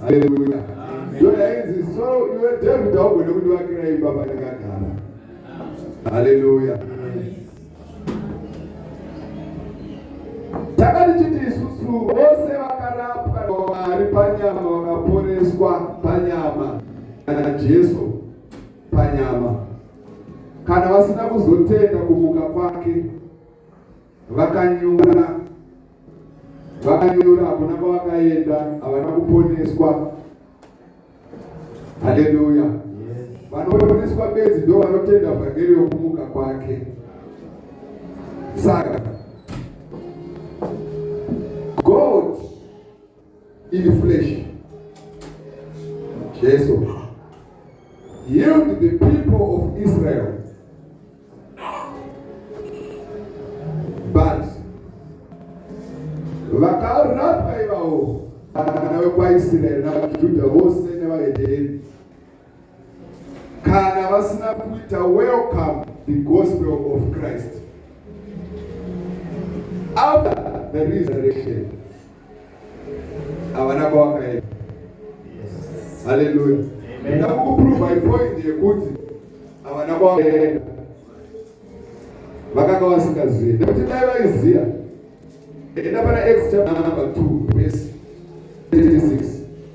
haleluya ndoda inzi so iwe david haugone kundivakira imba pandakagara haleluya takatichiti isusu vose vakarapwa namwari panyama vakaporeswa panyama kana jesu panyama kana vasina kuzotenda kumuka kwake vakanyura vakanyura hakuna kwavakaenda havana kuponeswa haleluya vanoponeswa bedzi ndo vanotenda vhangeri yokumuka kwake saka iri flesh jesu healed the people of israel but vakarapwa ivavo vana vekwaisraeri navajudha vose nevahedheni kana vasina kuita welcome the gospel of Christ after the resurrection havana kwavakaenda haleluya ndakukuprova ipoint yekuti havana kwavakaenda vakanga vasingazivi nekuti dai vaiziva enda pana x chapter number 2 verse 36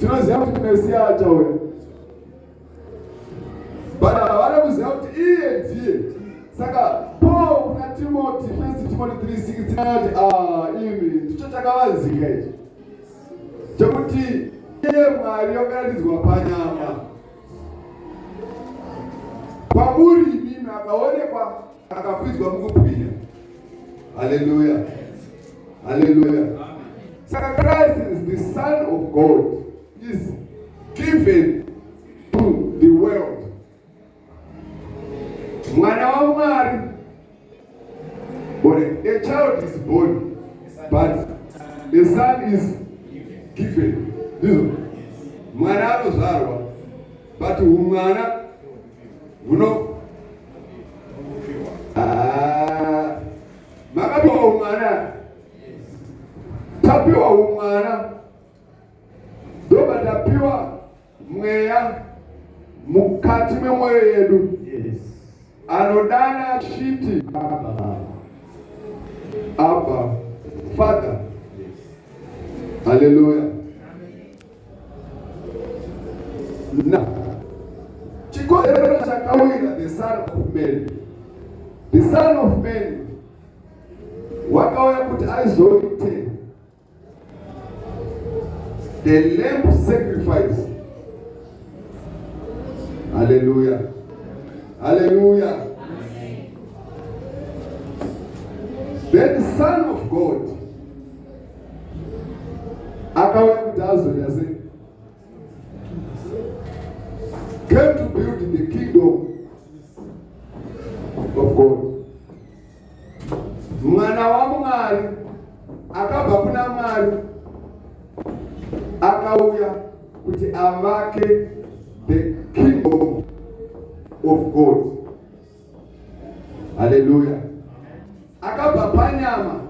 tinoziva kuti mesiya achauya but havana kuziva kuti iye ndiye saka paul kuna timoti first timoti 36 anati ah, imi ndicho chakavanzika ichi chekuti iye mwari wakaratidzwa panyama kwamuri imimi akaonekwa akakwidzwa mukubwinya haleluya haleluya saka christ is the son of god is given to the world mwana wamwari ore a child is born but a son is given ndizvo mwana anozvarwa but umwana Muno ah, makapiwa umwana, tapiwa umwana, ndoba tapiwa mweya mukati memwoyo yedu anodana achiti apa father. Haleluya. Now, chikonzero chakawira the son of man the son of man wakauya kuti aizoite the lamb sacrifice haleluya haleluya then the son of god akauya kuti azoita sei came to build the kingdom of god mwana wamwari akabva kuna mwari akauya kuti avake the kingdom of god Haleluya. Akabva panyama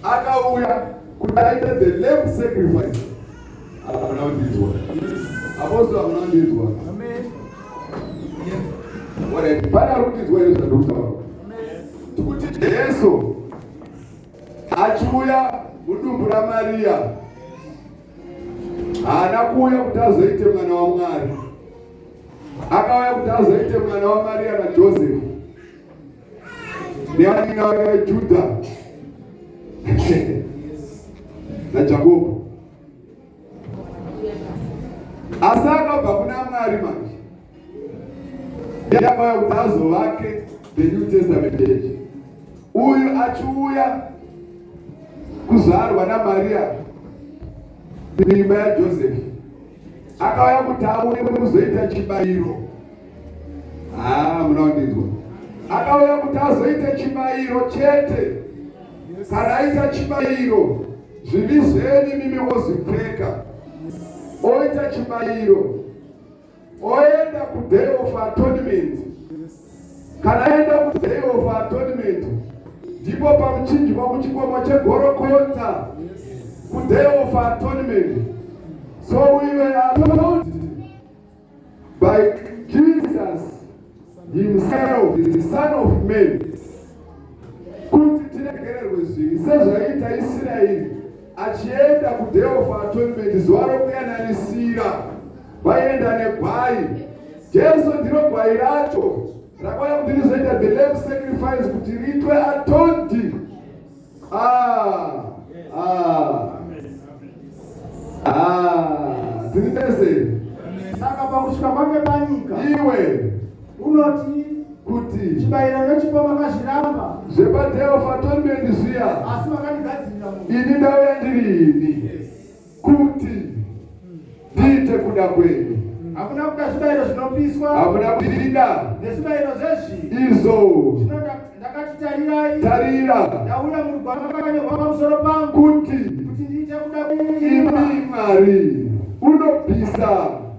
akauya kuti aite the lamb sacrifice. Hakuna kundinzwa. Apostle hakuna kundinzwa. Alright, pana kundinzwa here zvandokutaura? Tikuti Jesu achiuya mudumbu raMariya haana kuuya kuti azoite mwana waMwari. Akauya kuti azoite mwana waMaria naJosefu neaninga vake veJudha naJakobo. Asi akabva kuna Mwari manje yakauya kuti azovake the New Testament church. Uyu achiuya kuzvarwa naMaria mimba yaJosefu akauya kuti aone kuzoita chibayiro haa ah, munaondinzwa akauya kuti azoita chibayiro chete kana aita chibayiro zvivi zvenyu mimi wozipfeka oita chibayiro oenda kuday of atonement Kana aenda kuday of atonement ndipo pamuchinjwa kuchikwama chegorokonza kuday of atonement so we were atoned by Jesus himself the son of man kuti tiregererwe zvivi sezvaiita Isiraeri achienda kuday of atonement zuva rokuyananisira Vaienda negwai. Jesu ndiro gwai racho rakauya kuti rizoita the lamb sacrifice kuti riitwe atondi. Ah, ah. Ah, tiri tese. Saka pakusvika kwake panyika. Iwe unoti kuti chibayiro nechipo makazviramba zvepadeofa atondi zviya asi makandigadzirira ini ndauya ndiri ini kuti ndiite kuda kwenyu hakuna kuda zvibayiro zvinopiswa hakuna kuida nezvibayiro zvezvi izvo zvinoda ndakati tarirai tarira ndauya murugwaro makanyorwa pamusoro pangu kuti kuti ndiite kuda kwenyu imi mwari unobvisa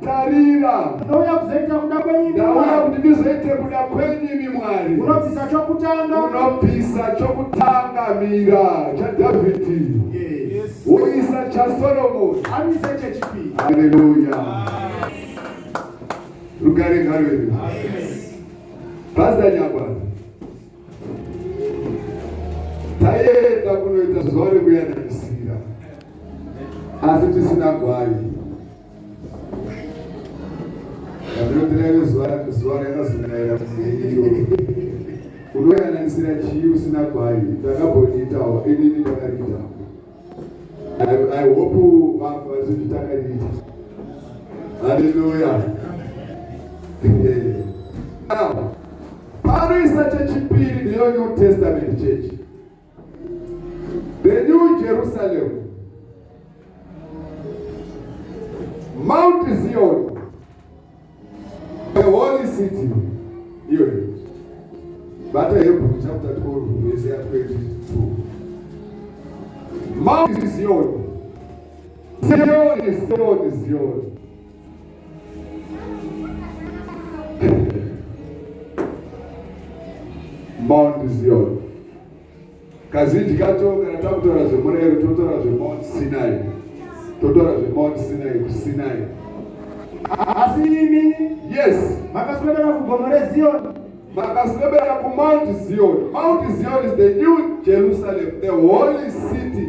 tarira ndauya kuzoita kuda kwenyu ndauya kuti ndizoite kuda kwenyu imi mwari unobvisa chokutanga unobvisa chokutanga mira chadhavhidhi woisa chasoromoni amise chechipiri haleluya rugare ngarwere pazanyagwa taienda kunoita zuva rekuyananisira asi tisina gwai Ndinotireve zuva zuva rakazonaira kuziyo. Unoyananisira chii usina gwai ndakambondiitawo inini ndakariita. I, I hope vanhu vazozvitakariita. Hallelujah. Now, pano isacha chipiri ndiyo New Testament church. The New Jerusalem, Mount Zion, the holy city. Iyoyo bata Hebrew chapter 12 verse 22. Mount Zion, Zion, Zion, Zion. Mount Zion. Kazhinji kacho kana takutora zvemurero totora zvemount Sinai, totora zvemount Sinai kuSinai. Asi imi yes, makaswedera kugomo reZion, makaswedera kuMount Zion. Mount Zion is the new Jerusalem, the holy city.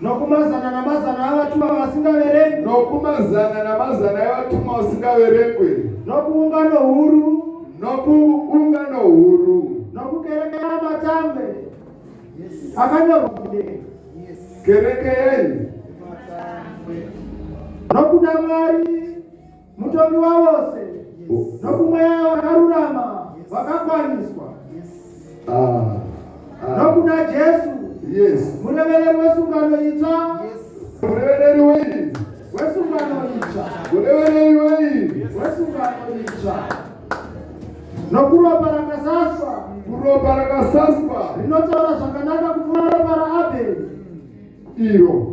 nokumazana namazana avatuma vasingaverengwi nokumazana namazana evatuma vasingaverengwi nokuungano huru nokuungano huru nokukereke yamatambe akanyorwa kereke yenyu nokuda mwari mutongi wavose nokumweya wakarurama vakakwaniswa ah, ah. nokuna jesu murevereri wesungano itsva murevereri wei wesungano itsva murevereri wei wesungano itsva nokuropa rakasaswa kuropa rakasaswa rinotaura zvakanaka kupfuura ropa raabheri iro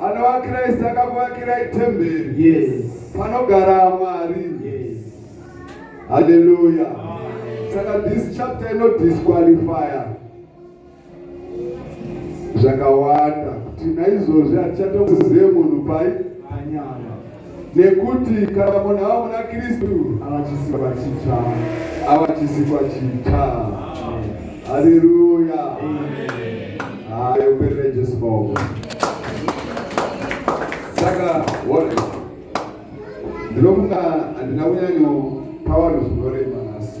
Anova Kristu akakuvakirai temberi. Yes. Panogara Mwari. Yes. Hallelujah. Amen. Saka this chapter ino disqualifier. Zvakawanda. Kuti naizvozvi hatichatokuzive munhu pai panyama. nekuti kana munhu ava muna kristu avachisikwa chitsva avachisikwa chitsva haleluya hayo perere jesu maoko saka one ndinofunga handina kunyanyo pawanhu zvinorema nhasi